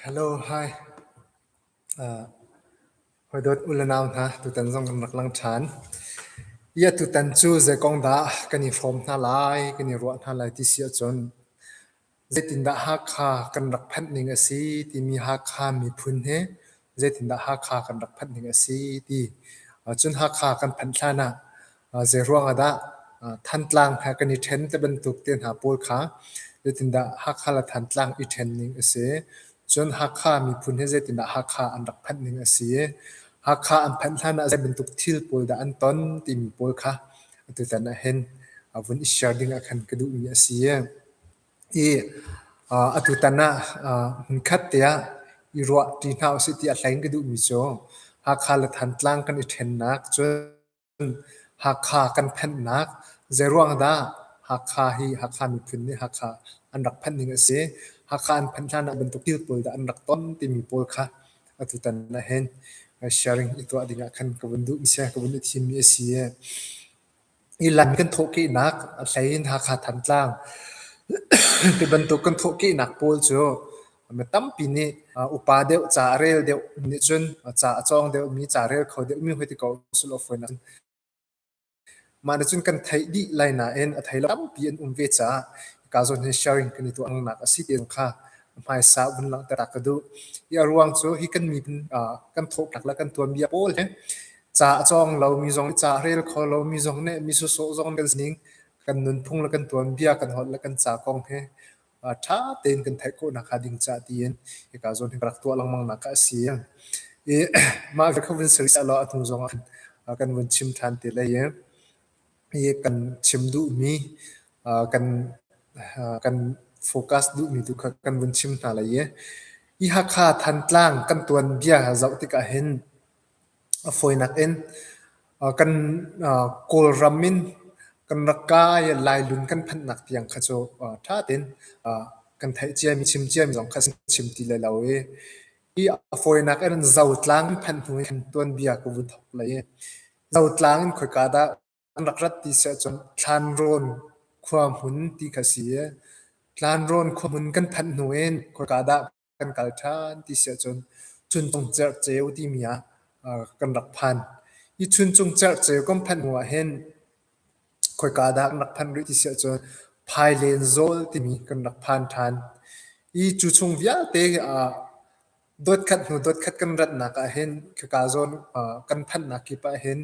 Hello, hi. Uh, hawidawt u le nau hna, tutan zong kan rak lang ṭhan. Ia tutan cu zei kong dah kan i fawm hna lai, kan i ruah hna lai ti si ahcun Zeitindah Hakha kan rak phanh ning a si timi Hakha miphun hi zeitindah Hakha kan rak phanh ning a si ti. Cun Hakha kan phanh hlan ah zeiruang ah dah Thantlang he kan i ṭhen ti bantuk te hna pawl kha zeitindah Hakha le Thantlang i ṭhen ning a si. Cun Hakha miphun hi zeitindah Hakha an rak phanh ning a si i Hakha an phanh hlan ah zeibantuk thil pawl dah an ton timi pawl kha tutan ah hin vun i share ding ah khan ka duhmi a si. i atutan ah hmunkhat te ah i ruah ṭi hna usih ti a hleng ka duhmi cu Hakha le Thantlang kan i ṭhennak cun Hakha kan phenhnak zeiruang dah Hakha hi Hakha miphun nih Hakha an rak phanh ding a si, Hakha an phanh hlan ah bantuk thil pawl dah an rak ton timi pawl kha atutan ah hin sharing i tuah ding ah khan ka vun duhmi si a ka vun i thimmi a si. Nilan kan thawhkehnak a hlei in Hakha Thantlang ti bantuk kan thawhkehnak pawl cu mi tampi nih upa deuh ca a rel deuh nih cun ca a cawng deuhmi, ca rel kho deuhmi hoi ti ko usulaw fawinak in mah nih cun kan theih dih lai nain a thei lo tampi an um ve caah hika zawn hin sharing kan i tuah ngaknak a si tiah zong kha hmaisa vun langhter ka duh. Hi a ruang cu hi kan miphun uh, kan thawhtlak le kan tuanbia pawl he ca a cawng lomi zong, ca a rel kho lomi zong nih mi sawsawh zong kan sining, kan nunphung le kan tuanbia, kan holh le kan ca kong he uh, ṭha tein kan theih khawhnak hnga ding ca tiin hika zawn hi ka rak tuah lengmangnak kha a si. I mah kha vun service law a hnu zong ah uh, kan vun chim ṭhan te lai. hi kan chim duhmi kan kan focus duhmi tu kha kan vun chim hna lai i i Hakha Thantlang kan tuanbia zoh tikah hin a fawinak in kan Kawlram in kan rak kai Lailun kan phanhnak tiang kha cu ṭha tein kan theih ciami chim ciami zong kha kan chim ti lai lo i hi a fawinak in Zotlang i phanh hnu in kan tuanbia ka vun thawk lai i Zotlang in khoika dah an rak rat ti si ahcun Thlanrawn khua hmun ti kha a si i Thlanrawn khua hmun kan phanh hnu in khoika dah kan kal ṭhan ti si ahcun Chuncung Cerhceu timi ah kan rak phan. Hi Chuncung Cerhceu kan phanh hnu ahhin khoika dah kan rak phan rih ti si ahcun Phailen Zawl timi kan rak phan ṭhan. Hi cu chung vialte ah Dotkhat hnu dotkhat kan ratnak ahhin khika zawn kan phanhnak kip ahhin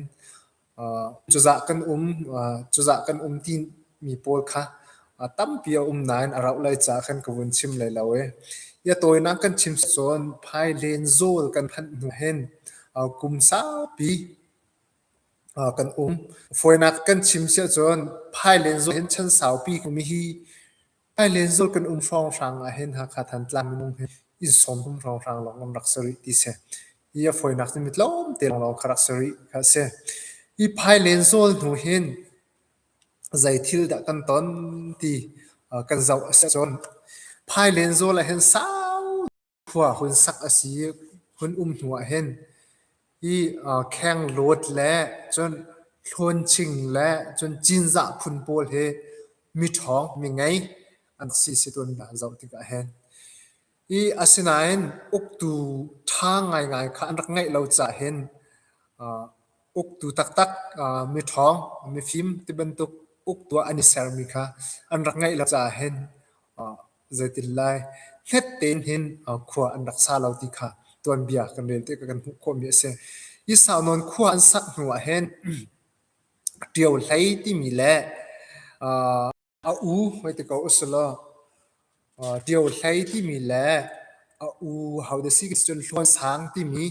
cuzah kan um cuzah kan um timi pawl kha tampi a um nain a rauh lai caah khan ka vun chim lai lo i a tawinak kan chim cun phailen zawl kan phanh hnu hin kum saupi kan um. Fawinak kan chim siahcun phailen zawl hin chan saupi mi hi Ai lenzual kan um hrawnghrang ahhin Hakha Thantlang minung hi inn sawmhum hrawnghrang lawng an rak si rih ti si. Hi a fawinak cu mi tlawmte lawng kha rak si rih kha a si. Hi phai lenzual hnu hin zeithil dah kan ton ti kan zoh a si cun phai lenzual ahhin sau khua hun sak a si. Hun um hnu ah hin hi khenghlawt le cun thlawnching le cun cinzah phun pawl hi miṭhawng mingei an si si tuan dah zoh tikah hin. I asinain uktu ṭha ngaingai kha an rak ngeih lo caah hin uktu taktak miṭhawng mifim ti bantuk uktu ah an i sermi kha an rak ngeih lo caah hin Zeitin lai hlet tein hin khua an rak sa lo ti kha tuanbia kan rel tikah kan hmuh khawhmi a si. Hi saunawn khua an sak hnu ah hin ṭio hlei timi le a u hoi ti ko usih law ṭio hlei timi le a u ho da si ka si cun hluansang timi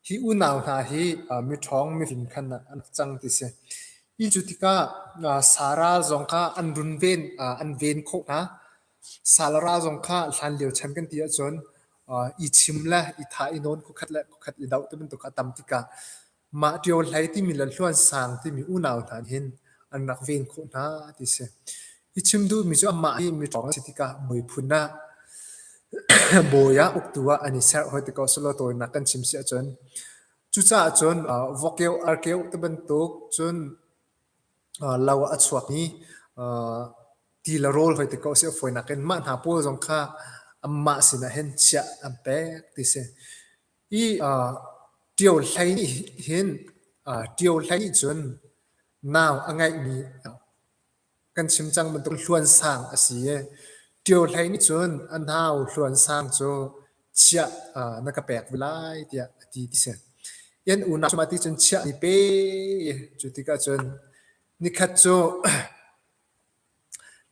Hi unau hna hi miṭhawng mihlim khan an rak cang ti a si. Hi cu tikah Sara zong kha an runven an ven khawh hna. Salara zong kha hlanlio chan kan ti ahcun i chim le i thah i nawn khukhat le khukhat i doh tibantuk a tam tikah mah ṭio hlei timi le hluansang timi unau hna nih hin an rak ven khawh hna ti a si. I chim duhmi cu amah hi miṭhawng a si tikah muiphun ah bawi ah uktu ah an i serh hoi tik ko selaw tawinak kan chim si ahcun cucaah cun uh, vokeu arkeu te bantuk cun uh, lo a chuak i uh, ti le rawl hoi tik ko si foinak in mah hna pawl zong kha amah sinah hin chiah an pek ti si i uh, ṭio hlei nih hin uh, ṭio hlei nih cun nau a ngeihmi Kan chim cang bantuk hluansang a si i ṭio hlei nih cun a nau hluansang cu chiah na ka pek ve lai tiah a ti ti si. Yan unau cungah ti cun chiah ni pe cu tikah cun nikhat cu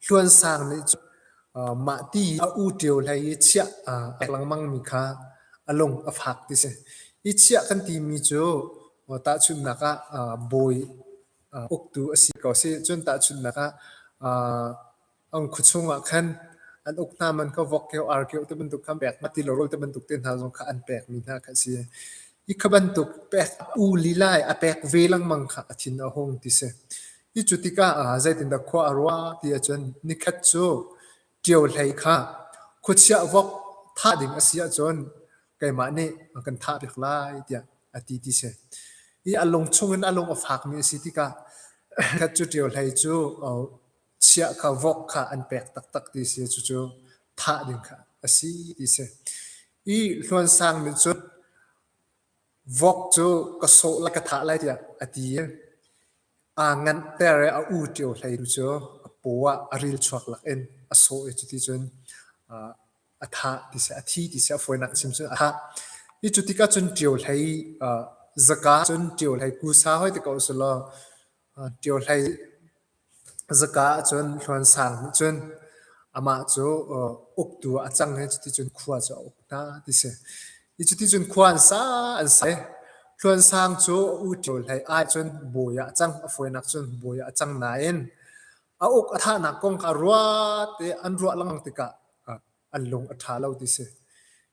hluansang nih cun mah ti a u ṭio hlei i chiah a rak langmangmi kha a lung a fak ti si. Hi chiah kan timi cu tahchunhnak ah bawi uktu a si ko si. Cun tahchunhnak ah, an khuachung ah khan an uk hna man kha vok keo, ar keo te bantuk khan pek, mati lorol te bantuk te hna zong kha an pek mi hna kha a si. Hi kha bantuk pek u lilai a pek ve lengmang kha a thin a hung ti si. Hi cu tikah zeitindah khua a ruah ti ahcun nikhat cu ṭio hlei kha khuachia vok thah ding a si ahcun keimah nih a kan thah piak lai tiah a ti ti si. I a lung chungin a lung a fakmi a si tikah khat cu ṭio hlei cu chiah kha vok kha an pek taktak ti si cucu thah ding kha a si ti si. I hluansang nih cun Vok cu ka sawh le ka thah lai tiah a ti i aa nganhter i a u ṭio hlei tu cu a paw ah a rilchuak lakin a sawh i cuti cun aa a thah tiah a thi tiah a fawinak a chim cun a thah. Hi cu tikah cun ṭio hlei aa zaka cun ṭio hlei kusa hoi ti ko usulaw ṭio hlei Zaka ah cun Hluansang nih cun amah cu uktu a cang i cuticun khua cu a uk hna ti si. Hi cuticun khua an sa an sa i Hluansang cu U Ṭio hlei ai cun bawi ah a cang. A fawinak cun bawi ah a cang nain a uk a thahnak kong kha ruat i an ruah lengmang tikah an lung a ṭha lo ti si.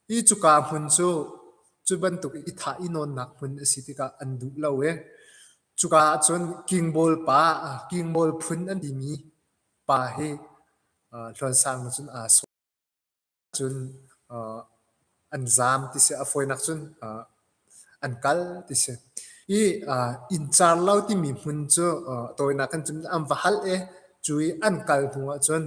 Hi cuka hmun cu, cu bantuk i thah i nawnnak hmun a si tikah an duh lo i Cuka ah cun kingbawl pa, kingbawl phun an timi pa hi Hluansang nih cun aa sawm. Cun an zaam ti si, a fawinak cun an kal ti si. I inncar lo timi hmun cu tawinak in cun an va hal i cu i an kal hnu ahcun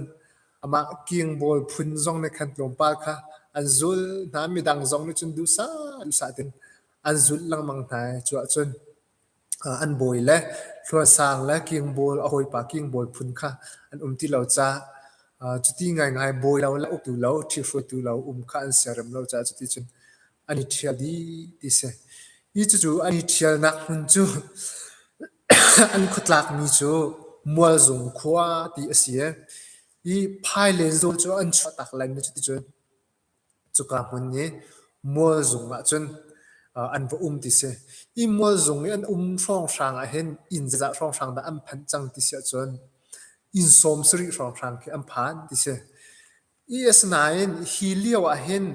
amah kingbawl phun zong nih khan tlawmpal kha an zul hna. Midang zong nih cun duhsah duhsah tein an zulh lengmang hna i cu ahcun An bawi le hluarsang le kingbawl, a hawipa kingbawl phun kha an um ti lo caah cuti ngaingai bawi lo le uktu lo, ṭhihruaitu lo um kha an siarem lo caah cuticun an i ṭhial dih ti a si. Hi cucu an i ṭhialnak hmun cu an khuatlakmi cu Mualzung khua ti a si i, hi Phailen zawl cu an chuahtak laimi cuticun Cuka hmun i mual zung ah cun an va um ti si. Hi mual zung i an um hrawnghrang ah hin inn zeizah hrawnghrang dah an phanh cang ti si ahcun inn sawm sarih hrawnghrang khi an phan ti si. Hi asinain hi lio ah hin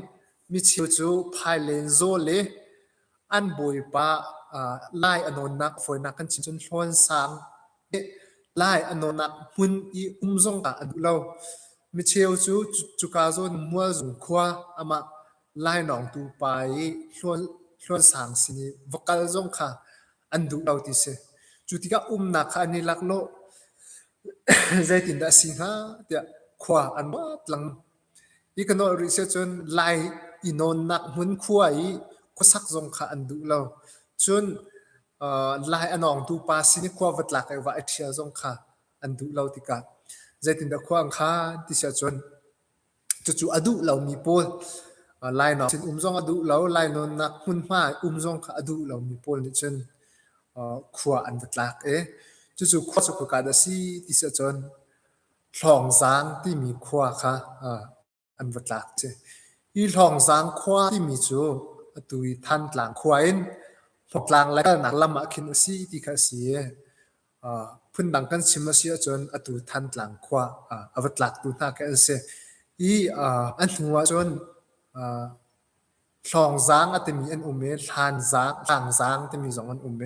micheu cu phai len zaw le an bawipa lai a nawnnak fawinak kan chin cun hlawn sang lai a nawnnak hmun i um zong ah a duh lo micheu cu cuka zawn mualzung khua amah lainawng tu pa i hlawn sang sin i va kal zong kha an duh lo ti si cu tikah umnak kha an i laklawh zeitindah a si hnga tiah khua an wat lang Hi kan olh rih siah cun Lai i nawnnak hmunkhua i khuasak zong kha an duh lo. Cun uh, Lai a nawngtu pa sin i khua va tlak i va i ṭhial zong kha an duh lo tikah zeitindah khua an khan ti siah cun cucu a duh lomi pawl uh, lainawn sin um zong a duh lo lainawnnak hmunhma um zong kha a duh lomi pawl nih cun uh, khua an va tlak i cucu khua cu khuakat a si ti siah cun Hlawngzang timi khua kha an va tlak a si. Hi Hlawngzang khua timi cu atu i Thantlang khua in Hmawrtlang le kalnak lam ah khin a si ti kha a si i phundang kan chim a si ahcun atu Thantlang khua a va tlaktu hna khi an si. Hi an hnu ahcun Hlawngzang a timi an um i Hlanzang, Hlangzang timi zong an um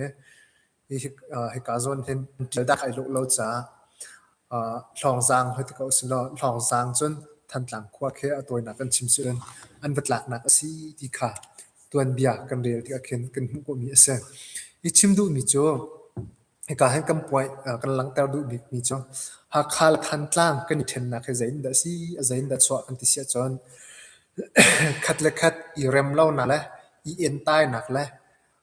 i hika zawn hin ṭil dak ai luh lo caah Hlawngzang hoiti ko silaw Hlawngzang cun Thantlang khua khi a tawinak an chim sihcun an va tlaknak a si ti kha tuanbia kan rel tikah khin kan hmuh khawhmi a si. Hi chim duhmi cu Hika hin kan puai uh, kan langhter duh bikmi cu Hakha le Thantlang kan i ṭhennak hi zeitindah a si, a zeitindah a chuah kan ti si ahcun khat le khat i rem lonak le i entainak le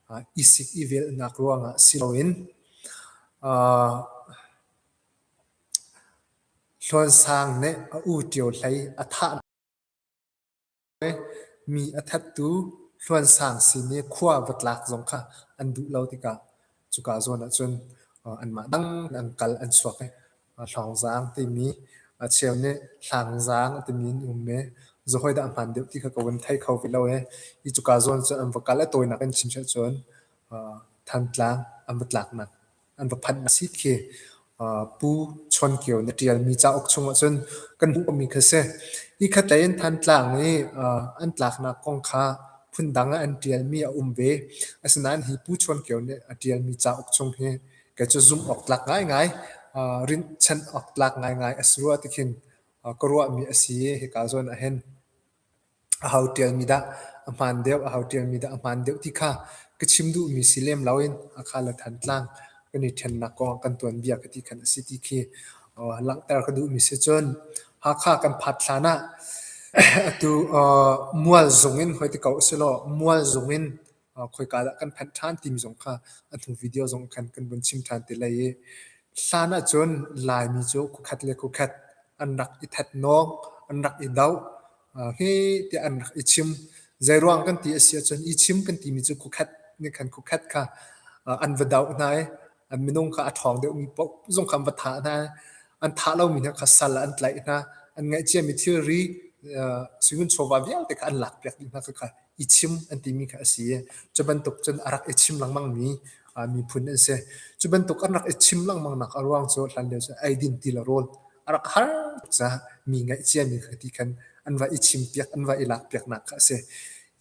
uh, i sik i velhnak ruangah si loin uh, Hluan Sang nih a u Ṭio hlei a thah Mi a thattu Hluansang sin i khua va tlak zong kha an duh lo tikah cuka zawn ahcun anmah dang an kal an chuak i Hlawngzaang timi a cheu nih Hlangzaang timi an um i zu hawi dah hmaan deuh ti kha ka vun thei kho ve lo i hi cuka zawn cu an va kal i a tawinak in chim si ahcun Thantlang an va tlak nak an va phanh a si khi Pu Chawn Kio na ṭialmi cauk chung ahcun kan hmuhmi kha si. Hi khatlei in Thantlang i an tlaknak kong kha phundang ah an ṭialmi a um ve. Asinain hi Pu Chawn Kio nih a ṭialmi cauk chung hi kei cu zumh awk tlak ngaingai, rinhchanh awk tlak ngaingai a si rua ti khin ka ruahmi a si i hika zawn ah hin A hau ṭialmi dah, a hmaan deuh, a hau ṭialmi dah, a hmaan deuh ti kha ka chim duhmi si lem lo in a kha le Thantlang kan i ṭhennak kong ah kan tuanbia ka ti khan a si ti khi langhter ka duhmi si cun Hakha kan phat hlan ah atu Mual zung in hoi ti ko usihlaw Mual zung in khoika dah kan phanh ṭhan timi zong kha a hnu video zong khan kan vun chim ṭhan te lai i hlan ahcun Laimi cu khuakhat le khuakhat an rak i thatnawk an rak i doh hi tiah an rak i chim zeiruang kan ti a si ahcun i chim kan timi cu khuakhat ne khan khuakhat kha an va doh hna i an minung kha a ṭhawng deuhmi paoh zong kha an va thah hna. An thah lomi hna kha sal ah an tlaih hna. An ngaihciami thilri, suingun chawva vialte kha an lakpiak dih hna. Khakha i chim an timi kha a si i cu bantuk cun a rak i chim lengmangmi miphun an si. Cu bantuk an rak i chim lengmangnak a ruang cu hlanlio cu eidin ti le rawl a rak har tuk caah mi ngaihciami kha ti khan an va i chimpiak, an va i lakpiaknak kha a si.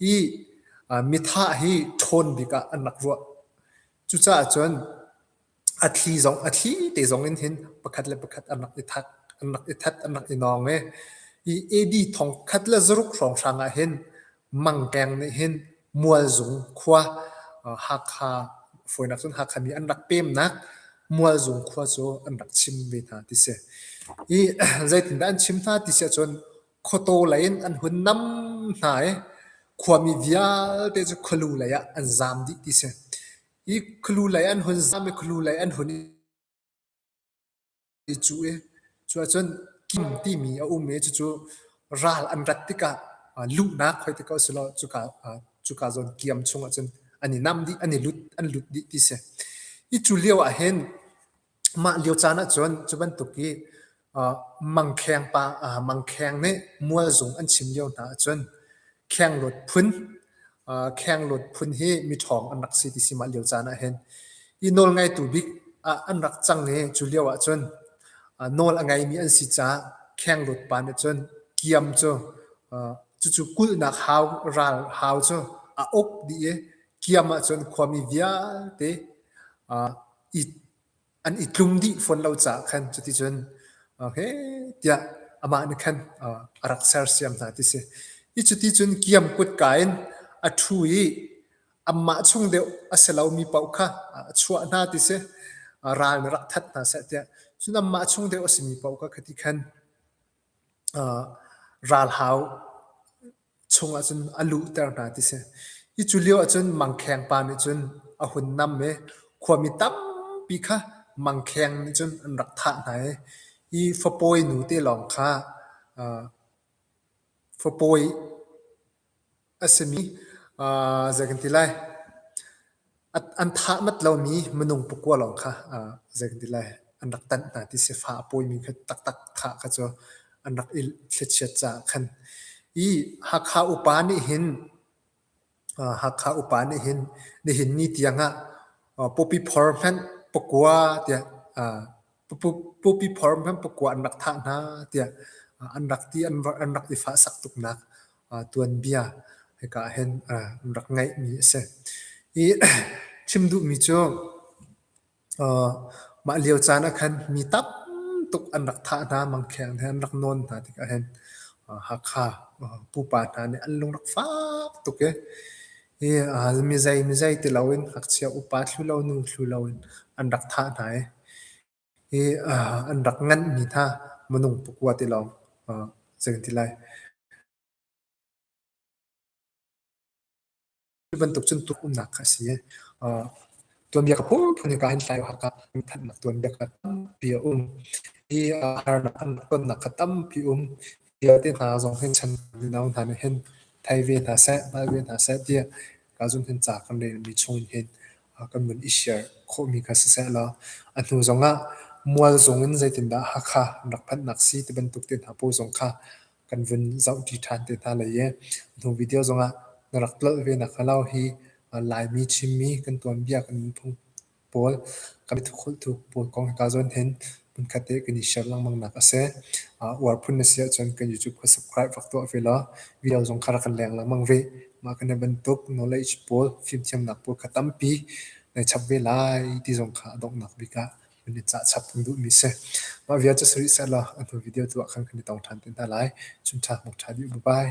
Hi mitha hi ṭhawn bik ah an rak ruah. Cucaah cun a thli zong a thli te zong in hin pakhat le pakhat an rak i that, an rak i that, an rak i nawng i i AD thong khat le zaruk hrawng hrang ah hin mangkeng nih hin Mualzung khua Hakha fawinak cun Hakha mi an rak pemnak Mualzung khua cu an rak chim ve hna ti si. I zeitindah an chim hna ti si ahcun Khuataw lei in an hun nam hna i khuami vialte cu khualu lei ah an zaam dih ti si. I khualu lei an hun zaam i khualu lei an hun i cuh i cu ahcun kim timi a um i cucu ral an rat tikah luhnak hoi ti ko si law cuka cuka zawn kiam chung ahcun an i nam dih, an i lut, an lut dih ti si. Hi cu lio ahhin Mah lio caan ahcun cu bantuk hi uh, mangkheng pa uh, mangkheng nih mualzung an chim lio hna ahcun khenglut phun uh, khenglut phun hi miṭhawng an rak si ti si mah lio caan ah hin i nawl ngaitu bik ah an rak cang i cu lio ahcun uh, nawl a ngeimi an si caah khenglut pa nih cun kiam cu uh, cucu kulhnak hau ral hau cu a uk dih i kiam ahcun khuami vialte uh, an i tlum dih fawn lo caah khan cuticun okay tiah amah nih khan a rak sersiam hna ti si. Hi cuti cun kiam kutka in a ṭhu i amah chung deuh a si lomi paoh kha a chuah hna ti si. Ral nih rak that hna seh tiah. Cun amah chung deuh a simi paoh kha khati khan ralhau chungah cun a luhter hna ti si. Hi cu lio ahcun mangkheng pa nih cun a hun nam i khuami tampi kha mangkheng nih cun an rak thah hna i hi fapawi nu te lawng kha uh, fapawi a simi uh, zei kan ti lai an thahmat lomi minung pakua lawng kha zeiti lai an rak tanh hna ti si. Fa a pawimi kha taktak thah kha cu an rak i thlichiat caah khan. I Hakha upa nih hin Hakha upa nih hin nihin ni tiang ah pawpi phor hmanh pakua tiah Pupi phor hmanh pakua an rak thah hna tiah an rak ti an rak i fahsak tuknak tuanbia hika ah hin an rak ngeihmi a si. Hi chim duhmi cu mah lio caan ah khan mi tam tuk an rak thah hna mangkheng he an rak nawn hna tikah hin Hakha pupa hna nih an lung rak fak tuk i Hi a hal mizei mizei ti loin ngakchia upa thlulo nu thlulo in an rak thah hna i hi an rak nganhmi hna minung pakua ti lawng zei kan ti lai. Cu bantuk cun tuahumnak kha a si i tuanbia ka phunphun in ka han tlai o hakah mithanhnak tuanbia kha tampi a um. Hi harnak an rak tonnak kha tampi um. Vialte hna zong hin chan mino hna nih hin thei ve hna seh, hngal ve hna seh tiah ka zun hin ca kan relmi chungin hin a kan vun i share khawhmi kha siseh law a hnu zongah mual zongin zeitindah Hakha an rak phanhnak si ti bantuk te hna pawl zong kha kan vun zohṭi ṭhan te hna lai i hnu video zongah na rak tlolh ve nakhnga lo hi Laimi Chinmi kan tuanbia kan vun phung pawl kan i thukholhtu pawl kong hika zawn hin hmunkhat te kan i share lengmangnak a si. Uh, uar phun na si ahcun kan YouTube kha subscribe rak tuah ve law video zong kha rak kan leng lengmang ve. Mah kan i bantuk knowledge pawl fimthiamnak pawl kha tampi nai chap ve lai ti zong kha a donghnak bik ah kan i cah chap kan duhmi si. Mah vialte suri sehlaw a hnu video tu ah khan kan i tong ṭhan te hna lai. Chun ṭha muk ṭha dih, bye-bye.